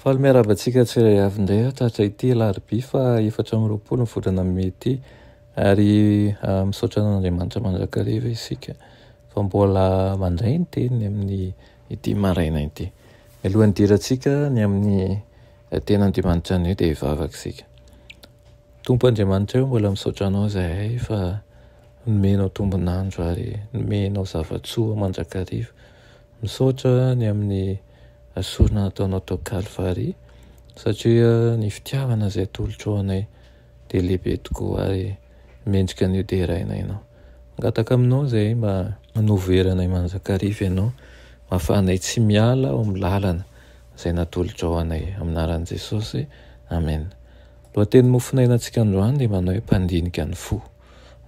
Faly miarahaba antsika tsirairay avy indray aho tratra ity alarobia fa efatra amby roapolo ny volana mey ity ary ah, misaotra an'Andriamanitra mandrakariva isika fa mbola mandray ny teniny amin'ny ity maraina ity. Mialohan'ny hidirantsika ny amin'ny eh, ten'Andriamanitra anio dia hivavaka isika. Tompo Andriamanitra eo mbola misaotra anao izahay fa nomenao tombon'andro ary nomenao zava-tsoa mandrakariva. Misaotra ny amin'ny sorona nataonao tao Kalvary satria ny fitiavana izay atolotrao anay dia lehibe tokoa ary mendrika ny hoderaina ianao. Mangataka aminao izay mba hanovo hery anay manjakariva ianao mba hafahanay tsy miala ao amin'ny lalana izay natolotrao anay. Amin'ny anaran'i Jesosy, Amen. Lohatenin'ny mofonainantsika androany dia manao hoe mpandinika ny fo.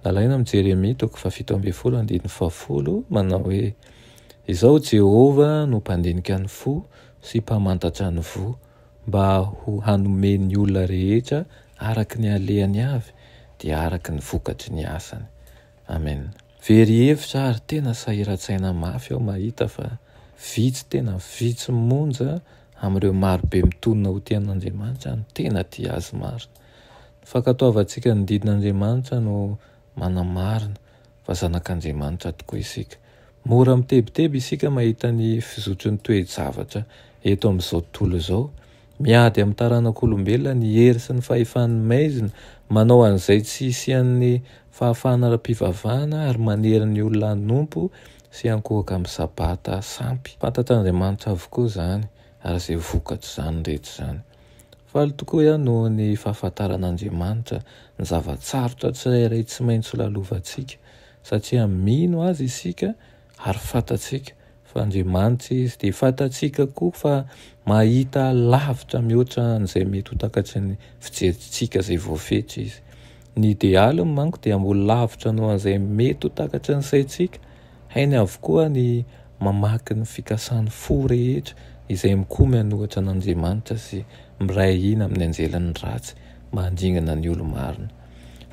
Nalaina amin'ny Jeremia toko fahafito ambin'ny folo andininy fahafolo manao hoe. Izaho Jehovah no mpandinika ny fo sy mpamantatra ny voa, mba ho hanome ny olona rehetra araka ny halehany avy, dia araka ny vokatry ny asany. Amen. Very hevitra ary tena sahiran-tsaina mafy aho mahita fa vitsy tena vitsy monja amin'ireo marobe mitonona ho tia an'Andriamanitra no tena tia Azy marina. Ny fankatoavantsika ny didin'Andriamanitra no manamarina fa zanak'Andriamanitra tokoa isika. Mora mitebiteby isika mahita ny fizotry ny toe-javatra eto amin'izao tontolo izao. Miady amin'ny taranak'olombelona ny hery sy ny fahefan'ny maizina, manao an'izay tsy hisian'ny fahafahana ara-pivavahana ary manery ny olona hanompo sy hankohoka amin'ny Sabata sampy. Fantatr'Andriamanitra avokoa izany ary izay vokatr'izany rehetra izany. Faly tokoa aho noho ny fahafantaran'Andriamanitra ny zava-tsarotra tsirairay tsy maintsy lalovantsika, satria mino Azy isika ary fantatsika fa Andriamanitra Izy, dia fantatsika koa fa mahita lavitra mihoatra an'izay mety ho takatry ny fijerintsika izay voafetra Izy. Ny idealy ny manko dia mbola lavitra noho an'izay mety ho takatry ny saintsika, hainy avokoa ny mamaky ny fikasan'ny fo rehetra izay mikomy an'ohatra an'Andriamanitra sy miray hina amin'ny anjelin'ny ratsy mba handringana ny olo-marina.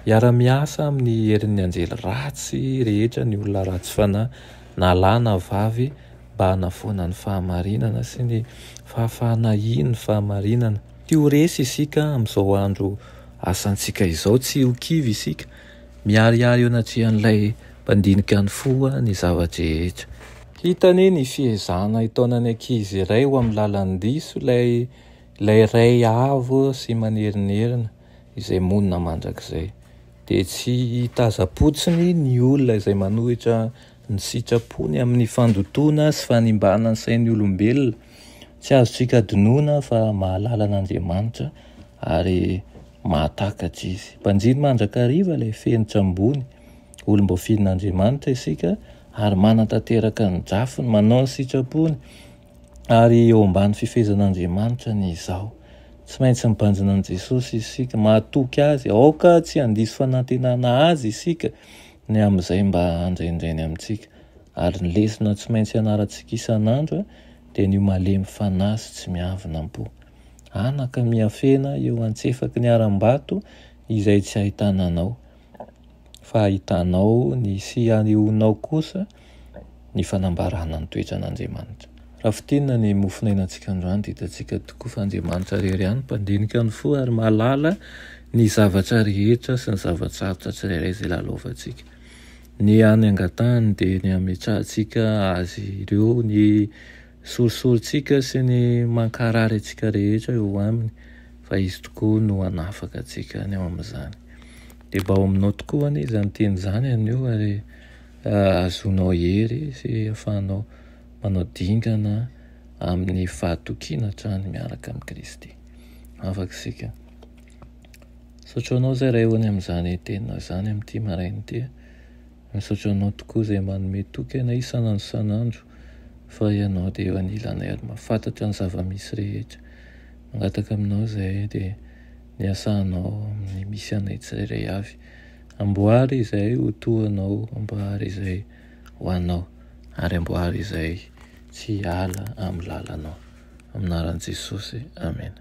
Hiara-miasa amin'ny herin'ny anjely ratsy rehetra ny olona ratsy fanahy, na lahy na vavy, mba hanafoana ny fahamarinana sy ny fahafahana hino ny fahamarinana. Tia ho resy isika amin'izao andro asantsika izao, tsy ho kivy isika, miharihary eo anatrehan'Ilay Mpandinika ny fo ny zava-drehetra. Hita anie ny fiezahana hitaona ny ankizy iray ho amin'ny lalan-diso ilay Ilay Ray avo sy manerinerina izay monina mandrakizay. Dia tsy hitazam-potsiny ny olona izay manohitra ny sitrapony amin'ny fandotoana sy fanimbana ny sain'ny olombelona, Tsy azontsika adinoina fa mahalala an'Andriamanitra ary mahatakatra Izy. Mpanjiny mandrakariva ilay fenitra ambony. Olom-boafidin'Andriamanitra isika ary manatanteraka ny drafiny, manao ny sitrapony ary eo ambany fifehezan'Andriamanitra ny izaho. Tsy maintsy mibanjina an'i Jesosy isika, mahatoky Azy. Aoka tsy handiso fanantenana Azy isika ny amin'izay mba handrenireny amintsika. Ary ny lesona tsy maintsy ianarantsika isan'andro dia ny ho malemy fanahy sy tsy miavona am-po. Anaka miafena eo antsefaky ny harambato izay tsy ahitana anao, fa ahitanao ny sy anehoanao kosa ny fanambarana ny toetran'Andriamanitra. Raha fintinina ny mofonainantsika androany dia hitantsika tokoa fa Andriamanitra irery ihany no mpandinika ny fo ary mahalala ny zavatra rehetra sy ny zava-tsarotra tsirairay izay lalaovantsika. Ny hany angatahany dia ny hametrahantsika azy ireo, ny sorisorintsika sy ny mankarary antsika rehetra eo aminy, fa izy tokoa no hanafaka antsika any amin'izany. Dia mba ao aminao tokoa anie izany teny izany anio ary ahazoanao hery sy ahafahanao manao dingana amin'ny fahatokiana hatrany miaraka amin'i Kristy. Afaka isika. Misaotra anao zay Raeony amin'izany tena zany amin'ity maraina ity a! Misaotra anao tokoa izay manome toky anay isan'andro isan'andro fa ianao dia eo anilanay ary mahafantatra ny zava-misy rehetra. Mangataka aminao izay dia ny asanao amin'ny misy anay tsirairay avy amboary izay ho toa anao, amboary izay ho anao ary amboary izay tsy hiala amin'ny lalanao. Amin'ny anaran'i Jesosy, Amena.